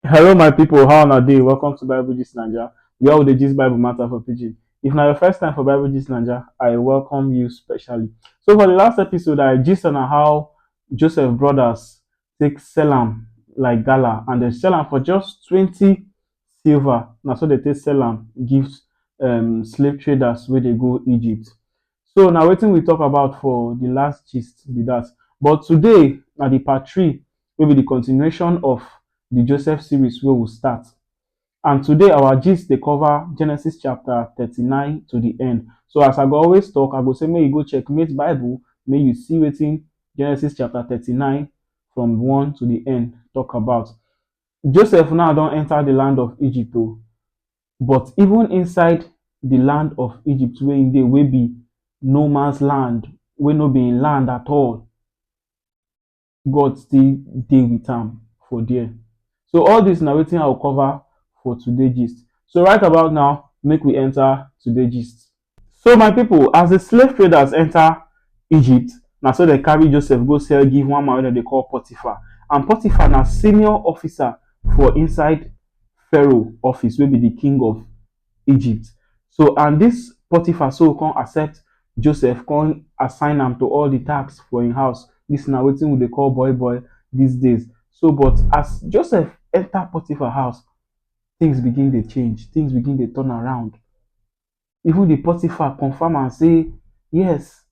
Hello, my people. How una dey? Welcome to Bible Gist Naija, where we dey gist Bible matter for pidgin. If na your first time for Bible Gist Naija, I welcome you specially. So for the last episode, I gist on how Joseph brothers take sell am like gala, and they sell am for just twenty silver. Na so they take sell am give um, slave traders wey dey go Egypt. So na wetin we talk about for the last gist be that. But today na the part three wey be the continuation of the Joseph series wey we start. And today our gist dey cover Genesis chapter thirty-nine to the end. So as I go always talk, I go say make you go checkmate Bible, make you see wetin Genesis chapter thirty-nine from one to the end talk about. Joseph now don enter the land of Egypt o, but even inside the land of Egypt wey im dey wey be no man's land, wey no be im land at all, God still dey with am for there. So all this na wetin I go cover for today gist. So right about now, make we enter today gist. So my people, as the slave traders enter Egypt, na so dem carry Joseph go sell give one man wey dem dey call Potiphar. And Potiphar na senior officer for inside Pharaoh office wey be the king of Egypt. So and dis Potiphar so come accept Joseph come assign am to all the tasks for im house. Dis na wetin we dey call boy boy dis days. So but as Joseph enter Potiphar house, things begin dey change, things begin dey turn around. Even the Potiphar confirm am sey yes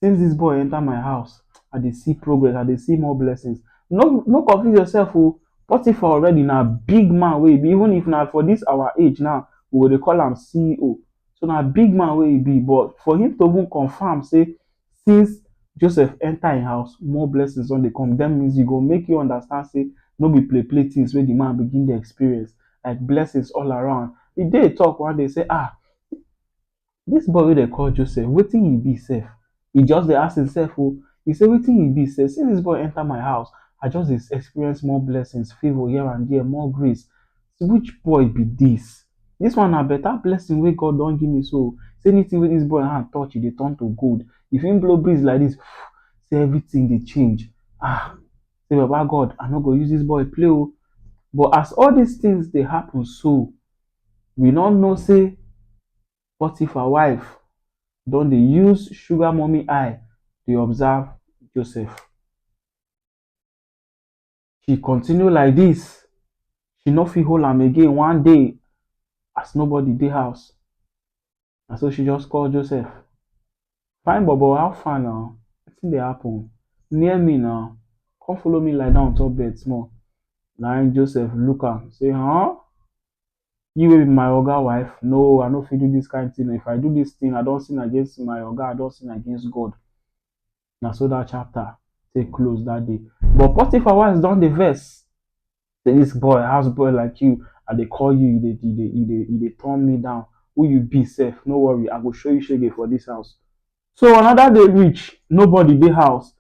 since dis boy enter my house, I dey see progress, I dey see more blessings. No no confuse yourself o, Potifa already na big man wey e be, even if na for dis our age now, we go dey call am CEO. So na big man wey e be, but for him to even confirm sey since Joseph enter im house, more blessings don dey come, that means e go make you understand sey no be play play things wey de man begin dey experience, like blessings all around. E dey talk one day sey um Dis boy wey dem call Joseph wetin he be sef? He just dey ask himself o, he say wetin he be sef? Since dis boy enter my house I just dey experience more blessings, favour here and there, more grace, which boy be dis? Dis one na better blessing wey God don give me so o, sey anything wey dis boy hand touch e dey turn to gold, if he blow breeze like dis sey everything dey change ah, sey baba God I no go use dis boy play o, but as all dis things dey happen so, we no know sey Potifa wife don dey use sugar mummy eye dey observe Joseph. E continue like dis, e no fit hold am again one day as nobody dey house. na so she just call Joseph, fine bobo how far now, wetin dey happen, near me now, come follow me lie down on top bed small, na im Joseph look am say huh, you wey be my oga wife, no I no fit do dis kind thing oo, if I do dis thing I don sin against my oga, I don sin against God, na so that chapter take close that day but potiphar wife don dey vex say this boy house boy like you i dey call you you dey you dey you dey you dey turn me down who you be sef no worry i go show you shege for this house so another day reach nobody dey house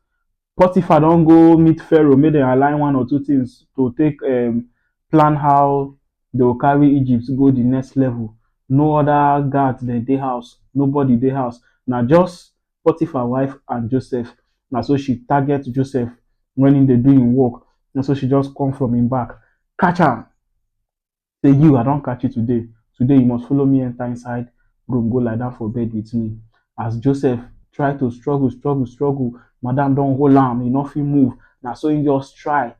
potiphar don go meet pharaoh make dem align one or two things to take um, plan how they go carry egypt go the next level no other guard dem dey house nobody dey house na just Potiphar wife and Joseph. Na so she target Joseph when he dey do him work. Na so she just come from him back, catch am. Say you, I don catch you today. Today you must follow me enter inside room go lie down for bed with me. As Joseph try to struggle, struggle, struggle, madam don hold am, he no fit move. Na so he just try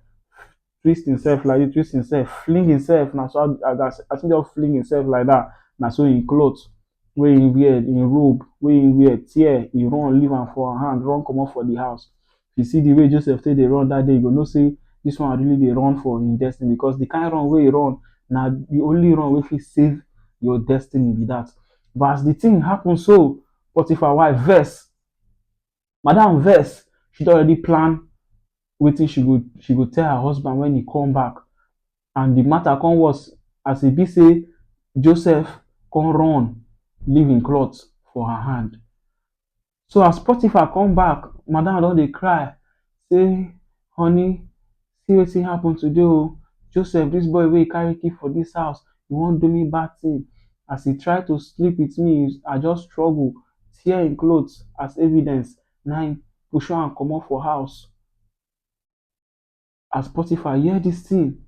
twist himself like this, twist himself, fling himself. Now so as, as, as he just fling himself like that, now so in clothes wey he wear, in robe wey he wear, tear, he run leave am for her hand, run comot for the house. If you see the way Joseph take dey run that day, you go know say this one really dey run for him destiny because the kind run wey he run na the only run wey fit save your destiny be that. But as the thing happen so, Potiphar wife vex. madam vex she don already plan wetin she go she go tell her husband when he come back and the matter come worse as e be say Joseph come run leave him cloth for her hand so as Potiphar come back madam don dey cry say honey see wetin happen today oh, Joseph dis boy wey you carry keep for dis house e wan do me bad thing as e try to sleep with me I just struggle tear him cloth as evidence na him pursue am comot for house as Potiphar hear dis thing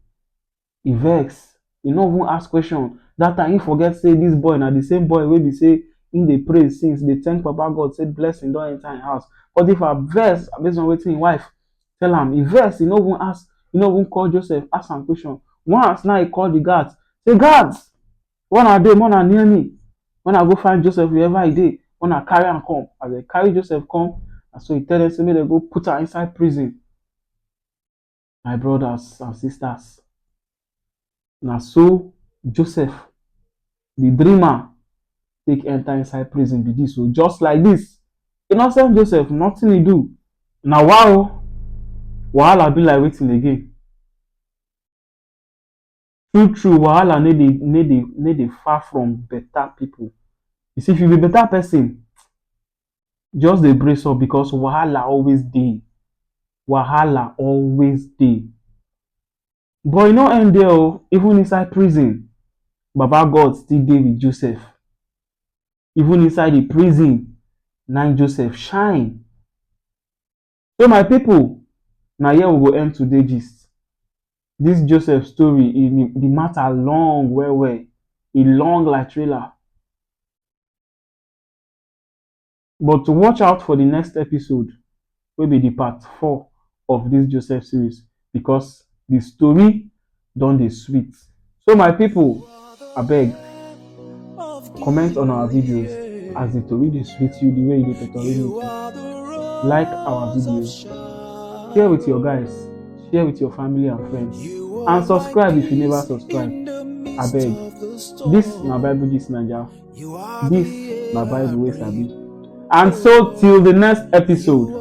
e vex e no even ask question that time he forget say this boy na the same boy wey be say he dey pray since dey thank baba God say blessing don enter him house Potiphar vex based on wetin him wife tell am he vex he no even ask he no even call Joseph ask am question once na he call the guards say guards where una dey make una near me make una go find Joseph wherever he dey make una carry am come as dem carry Joseph come na so he tell dem say make dem go put am inside prison. My brodas and sistas, na so Joseph di dreamer take enta inside prison be dis o, just like dis. Innocent Joseph, notin e do, na wa o, wahala be like watin again? True true wahala no dey no dey no dey far from better pipu. You see if you be better person just dey brace up because wahala always dey, wahala always dey. But e no end there oo even inside prison baba God still dey with Joseph. Even inside de prison na im Joseph shine. So my pipu, na here we go end today gist. Dis Joseph story, e di mata long well well, e long like trailer. But watch out for di next episode wey be di part four of dis Joseph series because di story don dey sweet. So my people, abeg comment on our videos as the tori dey sweet you the way e dey totori me too. Like our videos, share with your guys, share with your family and friends, and subscribe if you never subscribe. Abeg, this na Bible Gist Naija, this na Bible wey sabi. And so till the next episode.